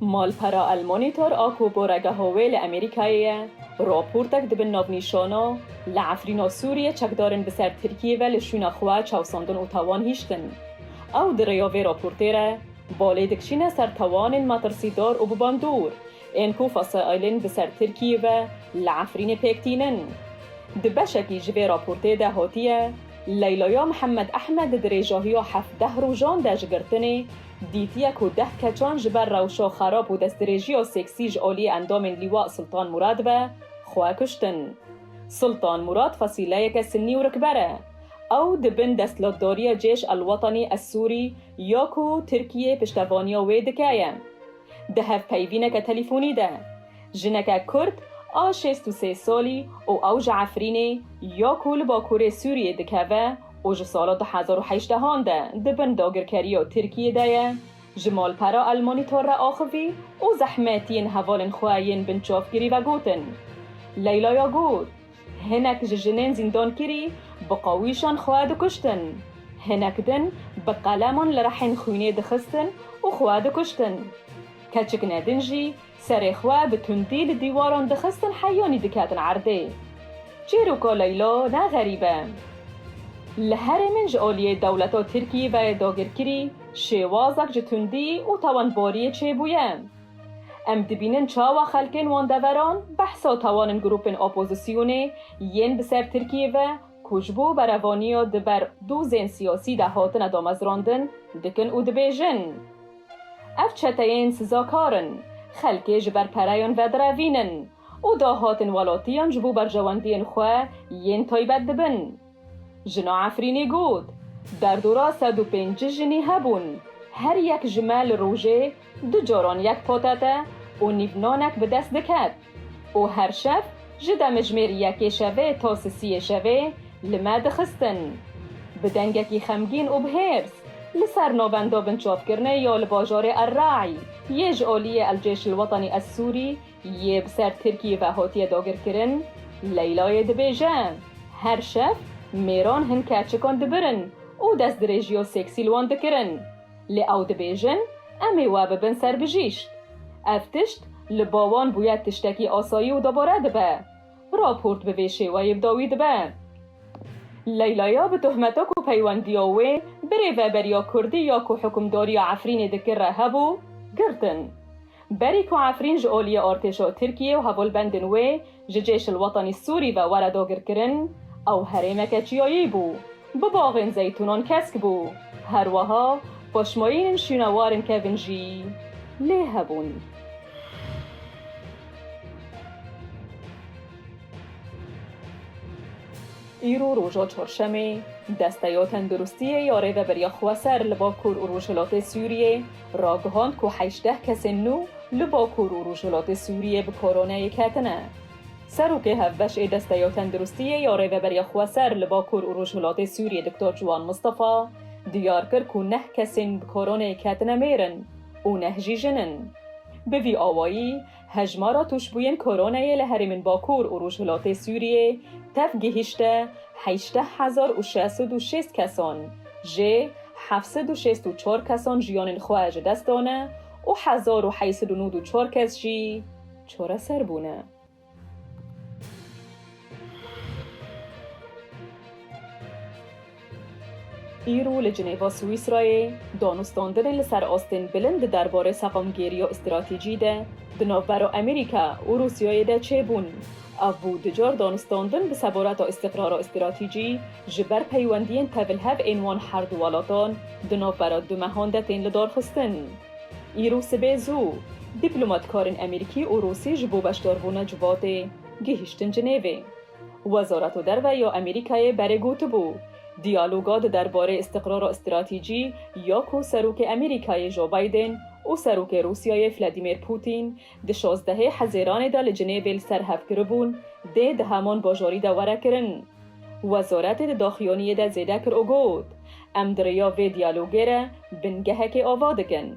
Malpera El Monitor a ku boregeha wê li Amerîkayê ye, raportek di bin navnîşana Li Efrîna Sûriyê çekdarên bi ser Tirkiyê ve li şûna xwe çavsandin û tawan hiştin. Ew di rêya vê raportê re balê dikişîne ser tawanên metirsîdar û bi bandor ên ku fesaîlên bi ser Tirkiyê ve li Efrînê pêk tînin. Di beşekî ji vê raportê de hatiye Leylaya Mihemed Ehmed di dirêjahiya hevdeh rojan de ji girtinê Dîtiye ku deh keçan ji ber rewşa xerab û destdirêjiya seksî ji aliyê endamên Lîwa Sultan Murad ve xwe kuştin. Sultan Murad fasîleyeke sinnî û rikber e. Ew di bin destlatdariya Cêş El Wetenî Ez Sûrî ya ku Tirkiyê piştevaniya wê dike ye. Di hevpeyvîneke telîfonî de, Jineke Kurd a şêst û sê salî û ew ji Efrînê ya ku li bakurê Sûriyê dikeve û ji sala du hezar û hejdeh an de di bin dagirkeriya Tirkiyê de ye, ji malpera El Monitor re axivî û zehmet yên hevalên xwe yên binçavkirî vegotin. Leylaya got, Hinek ji jinên zîndankirî bi qawîşan xwe dikuştin. Hinek din bi qeleman li rehên xwînê dixistin û xwe dikuştin. Keçik ne din jî Serê xwe bi tundî li dîwaran dixistin heyanî diketin erdê. Çîroka Leyla ne xerîb e. Li herê min ji aliyê dewleta Tirkiyê ve yê dagirkirî şêwazek ji tundî û tawanbariyê çêbûye. Em dibînin çawa xelkên wan deveran behsa tawanin grûpên opozisyonê yên bi ser Tirkiyê ve ku ji bo berevaniya di ber dozên siyasî de hatine damezrandin dikin û dibêjin, Ev çeteyên sizakar in, xelkê ji ber pereyan vedirevînin û dahatên welatiyan ji bo berjewendiyên xwe yên taybet dibin. Jina Efrînî got, Derdora sed û pênc jinî hebûn, her yek ji me li rojê du caran yek patete û nîvnanek bi dest diket. Û her şev ji demijmêr yekê şevê ta sisiyê şevê li me dixistin. Bi dengekî xemgîn û bi hêrs li ser navenda binçavkirinê ya li bajarê El Raî yê ji aliyê El Cêş El Wetenî El Sûrî yê bi ser Tirkiyê ve hatiye dagirkirin, Leylayê dibêje, Her şev mêran hin keçikan dibirin û destdirêjiya seksî li wan dikirin. Lê ew dibêjin, Em ê we bibin ser bijîşk. Ev tişt li ba wan bûye tiştekî asayî û dubare dibe. Raport bi vê şêweyê bi dawî dibe. Leylaya bi tohmeta ku peywendiya wê bi rêveberiya kurdî ya ku hukimdariya Efrînê dikir re hebû, girtin. Berî ku Efrîn ji oliyê artêşa Tirkiyê û hevalbendên wê ji Cêşil Wetanî Sûrî ve were dagirkirin, ew herêmeke çiyayî bû, bi baxên zeytûnan kesk bû. Her weha paşmayînên şûnewarên kevn jî lê hebûn. Îro roja Çarşemê, Desteya Tenduristiyê ya Rêveberiya Xweser li Bakur û Rojhilatê Sûriyê, ragihand ku hejdeh kesên nû li Bakur û Rojhilatê Sûriyê bi koronayê ketine. Serokê Hevbeş ê Desteya Tenduristiyê ya Rêveberiya Xweser li Bakur û Rojhilatê Sûriyê Doktor Ciwan Mistefa diyar kir ku neh kesên bi koronayê ketine mêr in û neh jî jin in. Bi vî awayî, Hejmara tûşbûyên koronayê li herêmên Bakur û Rojhilatê Sûriyê tev gihîşte heşteh hezar û şeş sed û şêst kesan, jê heft sed û şêst û çar kesan jiyanên xwe ji dest dane û hezar û heyt sed û nod û çar kes jî çareser bûne. Îro li Cinêva Swîsrayê danûstandinê li ser astên bilind di derbarê seqamgêriya stratejî de di navbera Amerîka û Rûsyayê de çêbûn. Ev bû du car danûstandin bi seboreta îstîqrara stratejî ji ber peywendiyên tevilhev ên wan her du welatan di navbera du mehan de tên lidarxistin. Îro sibê zû, dîplomatkarên Amerîkî û Rûsî ji bo beşdarbûna civatê, Gihiştin Cinêvê. Wezareta Derve ya Amerîkayê berê gotibû, Diyaloga di derbarê îstiqrara stratîcî ya ku Serokê Amerîkayê Joe Biden û Serokê Rûsyayê Vladimir Putin di şazdehê Hezêranê de li Cinêvê li ser hev kiribûn dê di heman bajarî de were kirin. Wezaretê di daxuyaniyê de zêde kir û got, Em di rêya vê diyalogê re bingehekê ava dikin.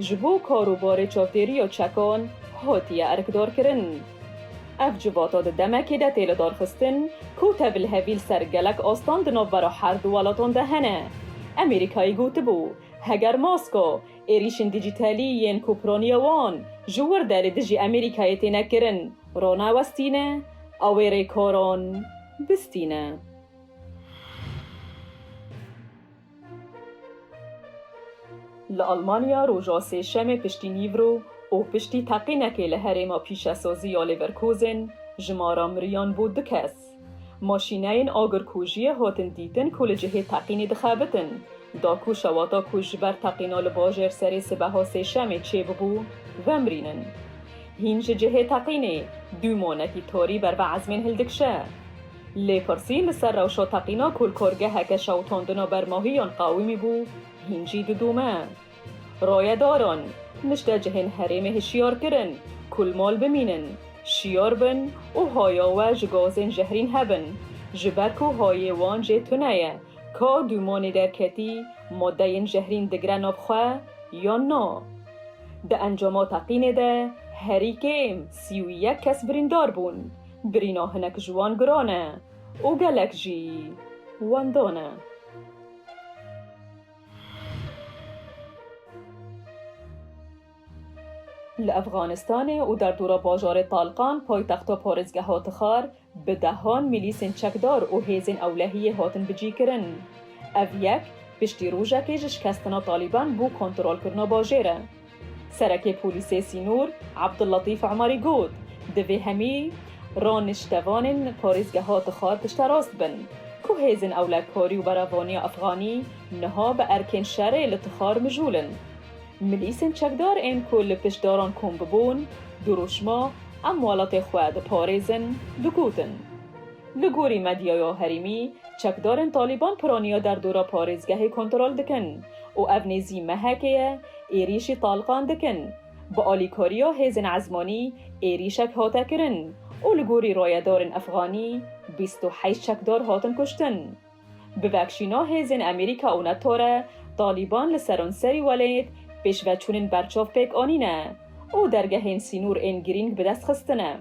Ji bo kar û barê çavdêriya çekan hatiye erkdarkirin. Ev civata di demekê de tê lidarxistin ku tevîlhevî li ser gelek astan di navbera her du welatan de hene. Amerîkayê gotibû, heger maska, êrîşên dîjîtalî yên ku piraniya wan ji wir de li dijî Amerîkayê têne kirin, ranewestîne, ew ê rêkaran bistîne. Li Almanya roja sêşemê piştî nîvro û piştî teqînekê li herêma pîşesazî ya Leverkusen jimara miriyan bû du kes. Maşîneyên agirkujiyê hatin dîtin ku li cihê teqînê dixebitin, da ku şewata ku ji ber teqîna li bajêr serê sibeha sêşemê çêbûbû vemirînin. Hîn ji cihê teqînê dû manekî tarî berbe ezmên hildikşe. Lê pirsî li ser rewşo teqîna ku li korgeheke şewitandina ber mahiyan qawimî bû, hîn jî didome. Rayedaran, nişte cihên herêmê hişyar kirin ku li mal bimînin, şiyar bin û haya we ji gazên jehrîn hebin, ji ber ku hayê wan jê tune ye, ka dûmanê derketî madeyên jehrîn digire nav xwe yan na. Di encama teqînê de herî kêm sî û yek kes birîndar bûn. Girîna hinek ji wan giran e û gelek jî wenda ne. Li Efxanistanê û derdora bajarê Talqan, paytexta parêzgeha Tixar, bi dehan milîsên çekdar û hêzên ewlehiyê hatin bicîkirin. Ev yek, piştî rojekê ji şikestina Talîban bû kontrolkirina bajêr e. Serekê Polîsê Sînor Abdulletîf Emarî got, Divê hemî raniştevanên parêzgeha Tixar pişterast bin ku hêzên ewlekarî û beravaniya efxanî niha bi erkên şerê li Tixar mijûl in. Milîsên çekdar ên ku li pişt daran kom bibûn, dirûşma Em welatê xwe diparêzin digotin. Li gorî medyaya herêmî, çekdarên Talîban piraniya derdora parêzgehê kontrol dikin û ev nêzî mehekê ye Êrîşî Taliban dikin. Bi alîkariya hêzên ezmanî êrîşek hate kirin û li gorî rayedarên efxanî bîst û heşt çekdar hatin kuştin. Bi vekşîna hêzên Amerîka û neto re Taliban li seranserî welêt pêşveçûnên berçav pêk anîne û dergehên sînûr ên girîng bi dest xistine.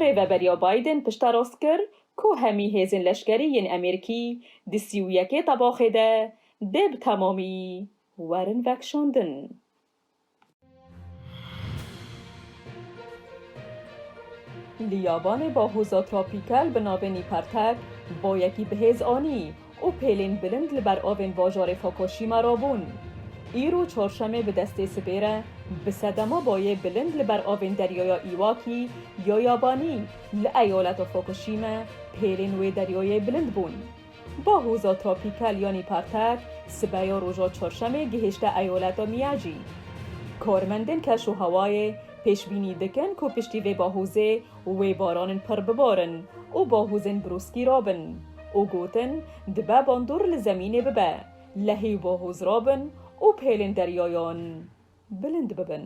Rêveberiya Biden pişterast kir ku hemî hêzên leşkerî yên Amerîkî di sî û yekê tebaxê de dê bi temamî Werin vekşandin. Li Yabanê bahoza tropîkel bi navê Nîpertek boyekî bihêz anî û pêlên bilind li ber avên bajarê Fokoşîma rabûn. Îro çarşemê bi destê sibê re bi sedema boyê bilind li ber avên deryaya Îwakî ya Yabanî li eyaleta Fokoşîme pêlên wê deryayê bilind bûn. Ba hoza tropîkal yanî partek sibeya roja çarşemê gihişte eyaleta Miyagi. Karmendên keşûhewayê pêşbînî dikin ku piştî vê bahozê wê baranên pirr bibarin û bahozên brûskî rabin û gotin dibe bandor li zemînê bibe lehî û bahoz rabin û pêlên deryayan bilind bibin.